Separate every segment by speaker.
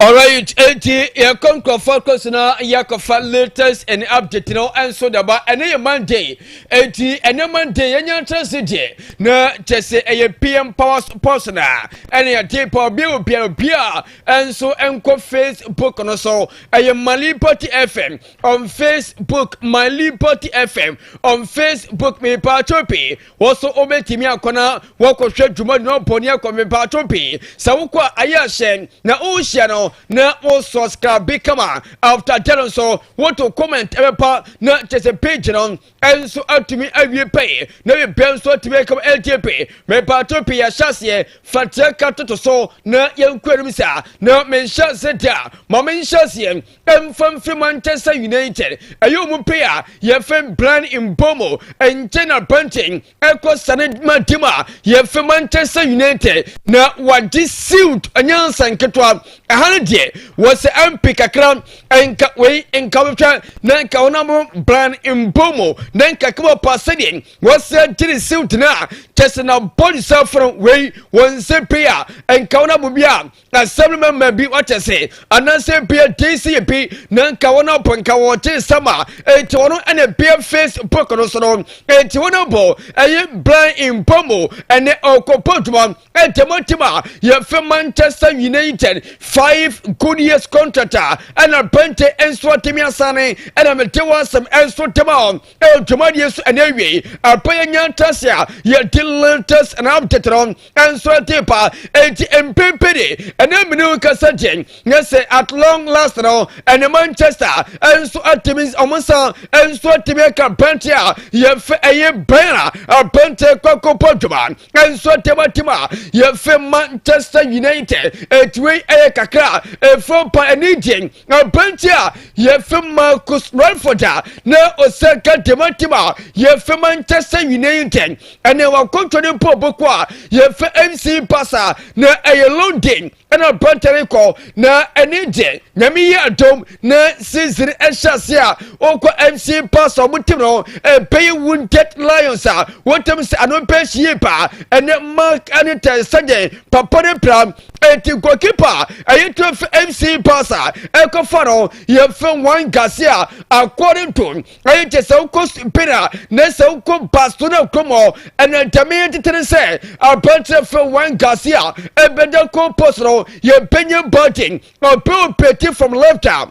Speaker 1: Alright, enti yɛkɔ nkurɔfoɔ akɔsi na yɛkɔfa latest and update no nso daba ɛne yɛ Monday enti ɛne Monday yɛnya ntrɛse deɛ na kyɛ sɛ ɛyɛ PM Power Sports na ɛne yɛde pa obi obi a obi a nso nkɔ Facebook no so ɛyɛ My Liberty FM on Facebook My Liberty FM on Facebook me pa chopi Wo so wobɛtumi akɔ na woakɔhwɛ dwuma no bɔne akɔ mepatwo pii sɛ wokɔ a ayɛ ahyɛ na wohyia no na wo subscribe kama after dɛ no nso woto comment ɛbɛpa na kyɛ sɛ page no nso atumi awie pɛi na bibia nso atumi akam ɛntie pɛi mepatwo pii yɛhyɛ aseɛ fateɛ ka toto so na yɛnkɔ anim saa na menhyɛ ase deɛ a ma menhyɛ aseɛ Mfamfi Manchester United ɛyɛ ɔmo pay a yɛfɛ Brian Mbeumo nkyɛn na Brentford ɛkɔ sane ma team a yɛfɛ Manchester United na wagye siwt nyansa nketewa ɛha no deɛ wɔsɛ MP kakra nka wei nka wɔhwɛ na nka ɔnamo Brian Mbeumo na nka kama pa sɛdeɛ wɔsɛ gye ne siwt no a kyɛsɛ na bɔdusafo no wei wɔn nsɛ pay a nka ɔnamo bi a asɛm no mɛma bi wɔte se anaasɛ bia dei si yɛ bi na nka wɔn abɔ nka wɔn te nsɛm a enti wɔn ɛna bia facebook no so no enti wɔn abɔ ɛyɛ blan mbɔ mu ɛne ɔkɔpɔ adwuma ɛntɛm atim a yɛfɛ manchester united five good years contract a ɛna bɛnte nso atemi asane ɛna mete wɔ asɛm ɛnso tema wɔn dwumadie nso ɛna awiei ɛpɛ yɛ nya ntas a yɛde lantas ɛna abtetɛrɛ ɛnso ɛte pa enti mpempe de ɛna mene nkasa gye nyɛ sɛ at long last no ɛne manchester ɛnso atumi ɔmo nsa ɛnso atumi aka bɛnte a yɛfɛ ɛyɛ bɛn a abɛnte kɔkɔpɔ dwuma ɛnso atɛma tim a yɛfɛ manchester united ɛtiwei ɛyɛ kakra ɛfam pa ɛne gye Aberanteɛ a yɛfrɛ Marcus Rutherford a na ɔsɛ ka dɛmɛntɛm a yɛfrɛ Manchester United ɛne wakɔntɔ ne mpo bɔkɔ a yɛfrɛ MC Barca na ɛyɛ London ɛna aberanteɛ no kɔ na ɛne deɛ nyame yi adom na season ɛhyɛ ase a ɔkɔ MC Barca ɔmo tim no ɛbɛyɛ Wounded Lions a wɔtɛm sɛ ano bɛhyɛ yie paa ɛne Mark ɛne tɛn sɛdeɛ papa ne pra Enti goalkeeper a ɛyɛ twerɛ fɛ MC Barca ɛkɔfa no yɛfɛ Juan Garcia according to ɛyɛ kyɛ sɛ wokɔ Spain a na sɛ wokɔ Barcelona kurom hɔ ɛna ntɛme yɛ tete ne sɛ aberanteɛ fɛ Juan Garcia ɛbɛda goal post no yɛbɛnya Barton ɔbɛ operate from left a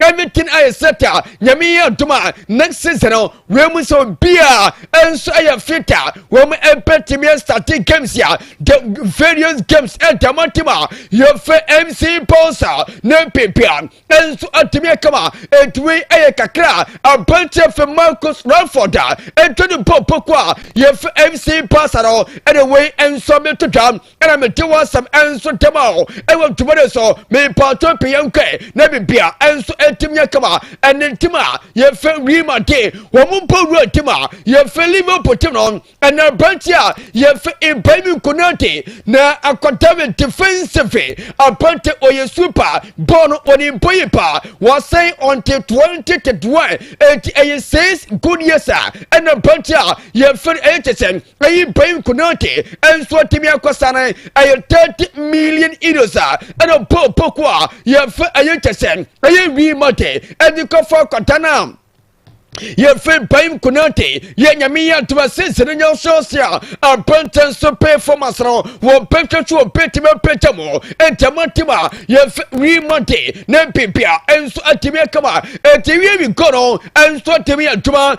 Speaker 1: everything ayɛ set a nyame yɛ ntom a next season no wei mu sɛ obiaa nso ɛyɛ fit a wɔn ɛbɛtumi astate games a the various games ɛntamatim a yɛfɛ mc balls a ne pepea nso atumi akama ɛtuwei ɛyɛ kakra a abɛnkyɛ fɛ marcus raford a ɛtwa ne bɔ poko a yɛfɛ mc balls a no ɛne wei nso meto dwa ɛna mete w'asɛm ɛnso ntɛm a ɛwɔ ntoma no so mepaato pɛ yɛn nkɔɛ na bibia ɛnso ɛtim nyɛ kama ɛne ntim a yɛfɛ wii ma de wɔn mo mpo wura ntim a yɛfɛ liverpool tim no ɛna aberanteɛ a yɛfɛ ibrahim nkonate na akɔdavid defensive aberante ɔyɛ super bɔɔl no ɔne mpo yi pa wɔsɛn ɔnte 2021 ɛti ɛyɛ 6 good years a ɛna aberanteɛ a Yɛfiri ɛyɛ kyɛ sɛ ɛyi Ben Konaté nso atumi akɔsane ɛyɛ thirty million euros a ɛna Paul Pogba a yɛfɛ ɛyɛ kyɛ sɛ ɛyɛ Real Madrid ɛde kɔfa akɔda no a yɛfɛ Ben Konaté yɛ nyame yɛ adoma sisi no nyɛ ɔsɔɔse a abɛntɛn so performance no wɔbɛhwɛ so wɔbɛtumi apɛgya mu ɛntɛma tim a yɛfɛ Real Madrid ne bibia nso atumi akama ɛti wie wi gɔ no nso atumi adwuma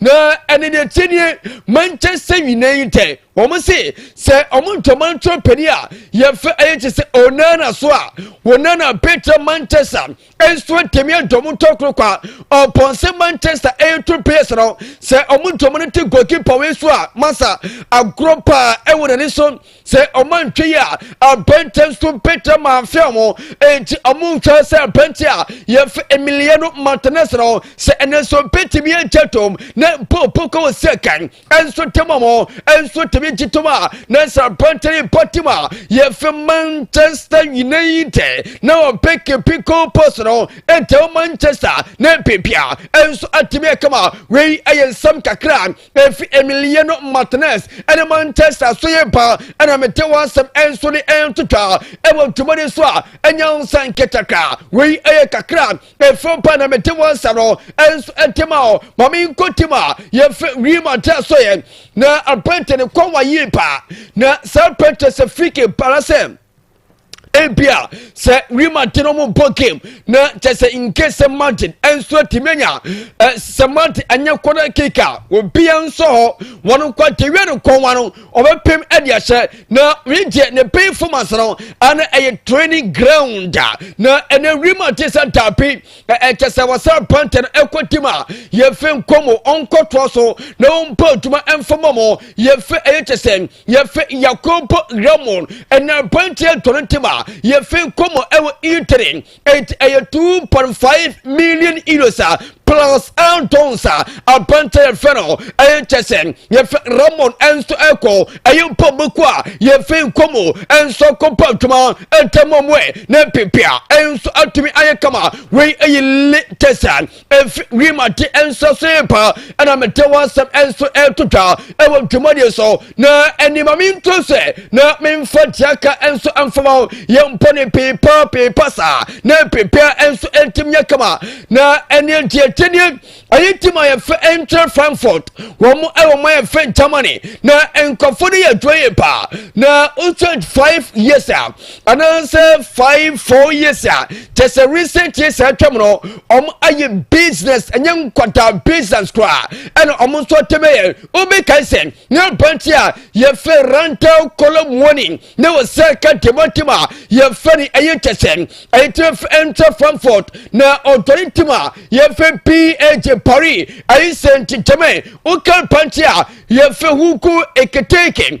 Speaker 1: na ɛne deɛ tie nie manchester united wɔn se sɛ wɔn ntoma ntoma panin a yɛfɛ ɛyɛ kye sɛ onana so a onana petra manchester nso atɛmi adɔm ntɔkoro kwa ɔpɔnse manchester ɛyɛ to players no sɛ wɔn ntoma no te goalkeeper wei so a masa agorɔ paa ɛwɔ n'ani so sɛ ɔmo antwa yi a abɛntɛ nso mpɛtɛ ma afɛ ɔmo enti ɔmo nhwɛ sɛ abɛntɛ a yɛfɛ emiliya no martinez no sɛ ɛnɛ nso mpɛtɛmi ɛnkyɛ tom na mpo poko wɔ sɛ kan ɛnso tɛm ɔmo ɛnso tɛmi gye tom a na sɛ abɛntɛ yi pa tim a yɛfɛ manchester united na ɔpɛ kepi kɔpɔs no ɛntɛw manchester na mpepia ɛnso atɛmi ɛkama wei ɛyɛ nsɛm kakra efi Emiliano Martinez ɛne Manchester so yɛ ba ɛna mete w'asɛm ɛnso ne ɛntotwa ɛwɔ dwumadi so a ɛnya nsa nketakra wei ɛyɛ kakra efo ba na mete w'asɛm no ɛnso ɛtema hɔ ma me nkɔ tim a yɛfɛ Real Madrid so yɛ na apɛntɛ ne kɔn wa yie paa na saa apɛntɛ sɛ friki para sɛ ebia sɛ Real Madrid no wɔn bɔ game na kyɛ sɛ nke sɛ Madrid nso atumi anya eh, sɛ Madrid anya kɔda kick a obia nso hɔ wɔn nkɔ agyewia no kɔnwa no ɔbɛpem ɛde ahyɛ na regye ne pay formas no ana ɛyɛ training ground na ɛnɛ Real Madrid sɛ daabi ɛkyɛ sɛ wɔsɛ pantɛ no ɛkɔ tim a yɛfɛ nkɔmɔ ɔnkɔtoa so na wɔn bɔ adwuma mfama mo yɛfɛ ɛyɛ kyɛ sɛ yɛfe yakobo ramon ɛna aberanteɛ dɔre ntem a yɛfe kɔmɔ ɛwɔ itiri ɛnti ɛyɛ 2.5 million euros a plus andons a aberanteɛ yɛfe no ɛyɛ kyɛ sɛ yɛfe ramon ɛnso ɛkɔ ɛyɛ mpɔ mako a yɛfe kɔmɔ ɛnso akɔpɔ adwuma ɛntɛmɔ mwe ne pepea ɛnso atumi ayɛ kama wei ɛyɛ le tɛsa efi wim ate nso so yɛ paa ɛna mete ho asɛm nso ɛto twa ɛwɔ ntwamudeɛ so na anima me nto sɛ na memfa tiaka nso mfama ho yɛmpɔ ne peepa peepa saa na peepea nso ɛtim nyɛ kama na ɛneɛ nti ɛkyɛdeɛ ɛyɛ tim a yɛfɛ ɛnkyerɛ frankfurt wɔn mo ɛwɔ mo yɛfɛ germany na nkɔfo no yɛ adwuma yɛ paa na wosɛ five years a anaasɛ five four years a kyɛ sɛ recent years a atwam no wɔn ayɛ business ɛnyɛ nkwadaa business koraa ɛna wɔn nso ɔtɛm yɛ wobɛkae sɛ ne abante a yɛfɛ rental column warning ne wɔ sɛ ka demontem a yɛfɛ ne ɛyɛ kyɛ sɛ ɛyɛtena ɛntra frankfurt na ɔdɔre ntim a yɛfɛ pag paris ɛyɛ sɛ nti gyɛmɛ woka abante a yɛfɛ huku eketeke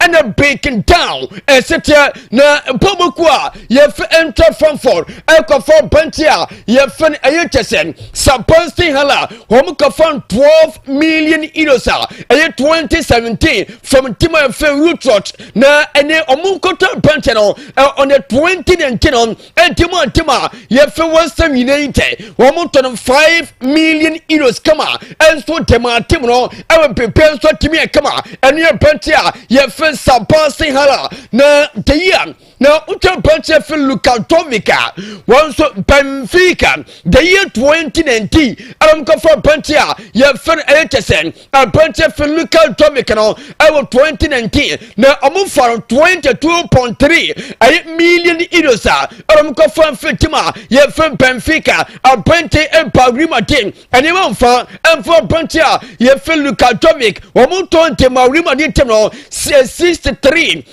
Speaker 1: ɛna breaking down ɛseteɛ na mpaboku a yɛfɛ ɛntwa fanfɔr ɛkɔfɔ bɛnkye a yɛfɛ no ɛyɛ kyɛ sɛ sabansten hala wɔn kɔfɔ twelve million euros a ɛyɛ twenty seventeen fam tim a ɛfɛ root rot na ɛne wɔn nkɔtɔ bɛnkye no on the twenty nineteen Enti mo ntem a yɛfrɛ wɔn nsɛm nyinaa yi ntɛ wɔn tɔ no 5 million euros kama nso de ma atem no ɛwɔ biribiara nso atumi a kama ɛno yɛ branche a yɛfrɛ Sabah Sinhala na de yi a na wotwa branche yɛfrɛ Lukatovica wɔn nso Benfica de yi toɔ nti na nti ɛna mokɔfa branche a yɛfrɛ no ɛyɛ kyɛ sɛ Aberanteɛ Filica Domic no ɛwɔ 2019 na wɔn fa no 22.3 ɛyɛ million euros a ɛna wɔn kɔfa mfiri tim a yɛfrɛ Benfica aberanteɛ ɛba Real Madrid nneɛma nfa ɛnfa aberanteɛ a yɛfrɛ Luka Domic wɔn tɔn de ma Real Madrid tim no 63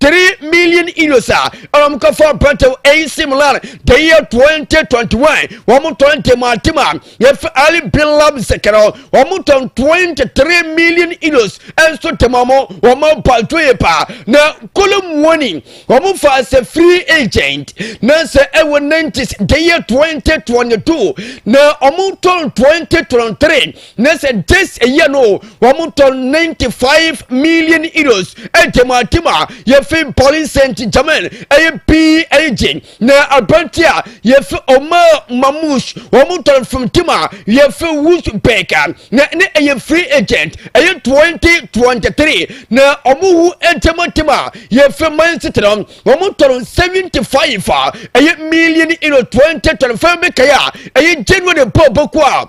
Speaker 1: three million euros a ɛna wɔn kɔfa aberantew AC Milan the year twenty twenty one wɔn tɔn ntɛmantɛma efi Ali bin Lamsek no wɔn tɔn twenty three million euros nso tɛma wɔn wɔn apanto yɛ paa na kolomuoni wɔn fa sɛ free agent na sɛ ɛwɔ nineties the year twenty twenty two na wɔn tɔn twenty twenty three. na sɛ this year no wɔn tɔ ninety five million euros ɛdɛm atim a yɛfi paulin saint germain ɛyɛ pii ɛyɛ gye na abirante a yɛfi omar mamush wɔn tɔ from team a yɛfi wusbek na ne ɛyɛ free agent ɛyɛ twenty twenty three na wɔn wu ɛdɛm atim a yɛfi man city no wɔn tɔ seventy five a ɛyɛ million euro twenty twenty five bɛkɛyɛ a ɛyɛ january bɔ bɔkɔ a.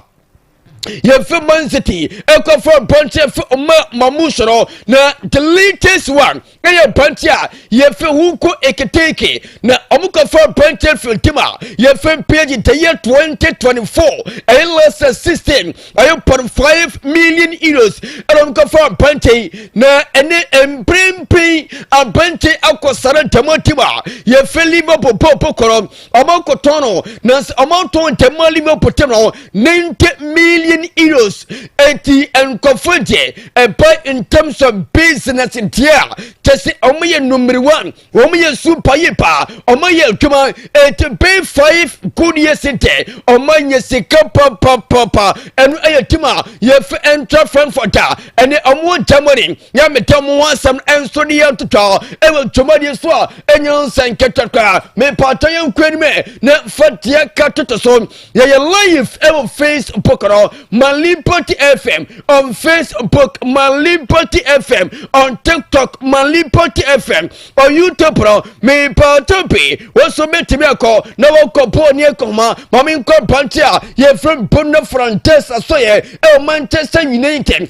Speaker 1: yɛmfi man city ɛkɔfa mpɔnkye fi ɔma ma mu soro na the latest one ɛyɛ mpɔnkye a yɛfi ho nko eketeke na ɔmo kɔfa mpɔnkye fi tim a yɛfi mpage the year 2024 ɛyɛ last year 16 ɛyɛ pɔn 5 million euros ɛna ɔmo kɔfa mpɔnkye na ɛne mprempren abɛnkye akɔ sara dɛm tim a yɛfi liverpool pɔpɔ kɔrɔ ɔmo nkotɔn no na ɔmo ntɔn ntɛm ma limu pɔtɛm no ninety million euros eti nkɔfo deɛ ɛbɛ ntɛm sɔ business deɛ a kyɛsɛ ɔmo yɛ number one ɔmo yɛ super yɛ paa ɔmo yɛ adwuma eti bɛn five good years deɛ ɔmo nyɛ sika papapapa ɛno ɛyɛ tim a yɛfɛ ɛntra frankfurt a ɛne ɔmo Germany Nyametam ho asɛm nso ne yɛntoto ɛwɔ dwumadie so a ɛnyɛ nsɛnkɛtɛ koraa. Mepaatɔ yɛnkɔ anim na fa deɛ ka toto so. Yɛyɛ live ɛwɔ Facebook no Malipoti FM on Facebook, Malipoti FM on TikTok, Malipoti FM on YouTube no. Mepaatɔ bi wo nso bɛtumi akɔ na wɔkɔ bɔɔ ne akɔma ma menkɔ brante a yɛfiri Bonno Frantesa so yɛ ɛwɔ Manchester United.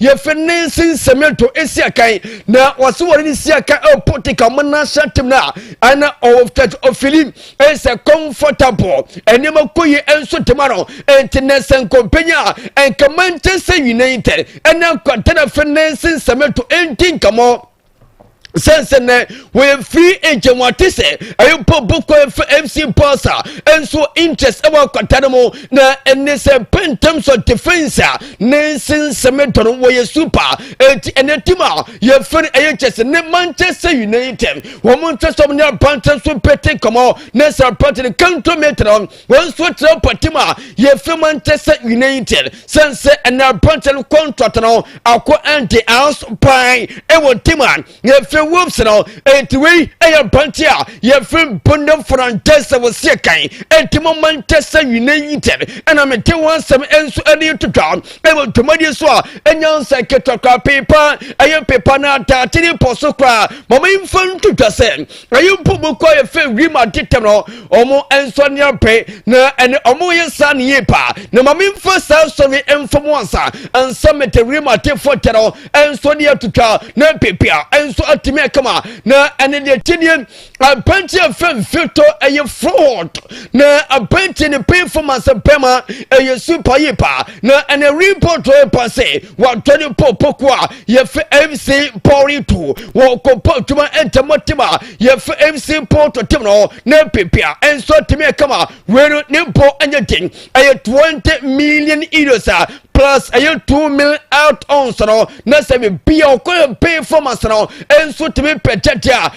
Speaker 1: yɛfɛ ne nsi nsɛm yɛn to esi akan na wɔsi wɔn ne si akan ɛpo te ka wɔn nan hyɛ atem na ɛna ɔfɛ ɔfili ɛsɛ comfortable ɛnneɛma kɔ yi ɛnso tema no ɛnti na ɛsɛ nkɔmpenya ɛnkama nkyɛn sɛ nyina yi tɛ ɛna nkɔntɛn ɛfɛ ne nsi nsɛm yɛn to ɛnti nkamɔ. sɛnsɛnɛ wɔyɛ free agent wɔn ate sɛ ɛyɛ mpo boko efe fc bɔsa nso interest ɛwɔ akwata no mu na ɛne sɛ pɛntɛm so defense a ne nsensɛm dɔ no wɔyɛ super eti ɛnɛ tim a yɛfɛ no ɛyɛ kyɛsɛ ne manchester united wɔn nkyɛsɛm ne abankyɛn so pete kɔmɔ ne sɛ pɛtɛ ne kanto metre no. wɔn nso tena mpɔtam a yɛfiri mu nte sɛ united sɛn sɛ ɛna aberantɛ no kɔntrɔt no akɔ ɛnde ans pan ɛwɔ tim a yɛfiri wolves no ɛnti wei ɛyɛ aberantɛ a yɛfiri bonda fernandez wɔ seɛ kan ɛnti mo manchester united ɛna mete wɔn asɛm nso ɛne to dwa ɛwɔ dwumadie so a ɛnya nsɛ ketekora pepa ɛyɛ pepa no adaakyere pɔ so koraa mama mfa nto dwa sɛ ɛyɛ mpo mu kɔ yɛ fɛ wiem ade tɛm no ɔmo nsɔ ne abɛn na ɛne ɔmo yɛ saa ne yie paa na ma memfa saa sɔre mfa mu ansa ansa mede wiem ade fɔ tɛ no ɛnso ne atutwa na pepia ɛnso atumi akama na ɛne deɛ tinie abɛnkye afɛ mfito ɛyɛ fraud na abɛnkye ne painful mansa bɛma ɛyɛ super yie paa na ɛne report pa se wadɔ ne pɔ pokoa yɛfɛ mc pɔri to wɔ kɔpɔ adwuma ntɛmɔ tem a yɛfɛ mc pɔn to tem no na pepia nso tumi ɛkama wei no ne mpɔ anyɛ den ɛyɛ 20 million euros a plus ɛyɛ 2 mil out ons no na sɛ biribi a ɔkɔ yɛ pay performance no nso tumi pɛ gyagye a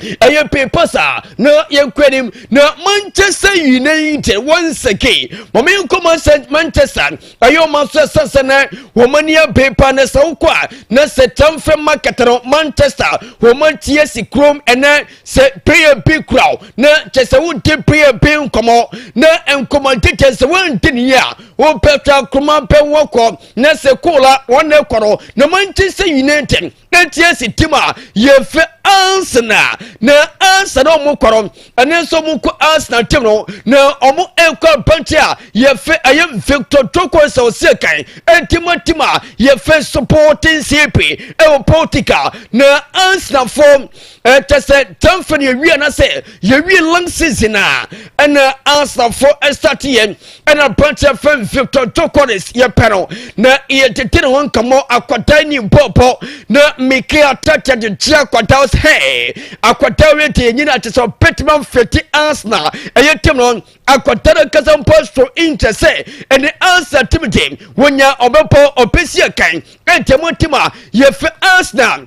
Speaker 1: ɛyɛ pepa saa na yɛnkɔ anim na manchester united once again mɔme nkɔ manchester ɛyɛ ɔma so ɛsɛ sɛ na wɔn ani abepa na sɛ wokɔ a na sɛ transfer market no manchester wɔn atie si kurom ɛnɛ sɛ player bi kura o na kyɛ sɛ wodi player bi nkɔmɔ na nkɔmɔ tete sɛ wɔndi ne yɛ a wɔpɛtɔ akoroma pɛ wɔkɔ na sɛ koola wɔn na ɛkɔ no na manchester united na ntiɛ si tim a yɛfɛ Arsenal na Arsenal ɔmo kɔrɔ ɛne nso ɔmo kɔ Arsenal tim no na ɔmo ɛkɔ abɛnti a yɛfɛ ɛyɛ Victor Tokos ɔsɛ kan ɛtima tim a yɛfɛ Sporting CP ɛwɔ Portugal na Arsenal fo ɛkyɛ sɛ tɛmfɛ ne yɛwie anasɛ yɛwie long season a ɛna asafo ɛsate yɛn ɛna branteɛ fɛ victor jokoris yɛpɛ no na yɛtete ne ho nkamɔ akwadaa ni bɔɔbɔ na mike atɛtɛ de kyerɛ akwadaa wo sɛ akwadaa wei te yɛnyina akyɛ sɛ ɔbɛtuma mfiti asena ɛyɛ tim no akwadaa no kasa mpo so nkyɛ sɛ ɛne ansa tim de wɔnya ɔbɛbɔ ɔbɛsi ɛkan ɛntɛmu tim a yɛfɛ asena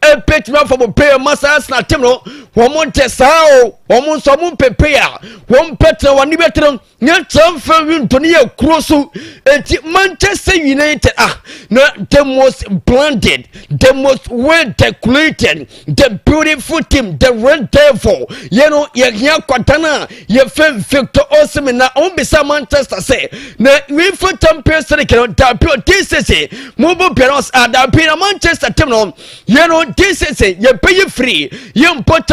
Speaker 1: ɛbɛtumi afa mo pɛyɛ ma saa sena tem no wɔn nte saa o wɔn nso wɔn mpepeye a wɔn bɛtena wɔn ani bɛtena nyɛ transfer window no yɛ kuro so eti manchester united ah na the most branded the most well decorated the beautiful team the red devil yɛ no yɛ hia kwadan a yɛfɛ victor osimhen na ɔmo bisa manchester sɛ na UEFA champions league no dabi o dsese mo bɔ biara ɔs adabi na manchester team no yɛ no dsese yɛbɛyi firi yɛ mpɔ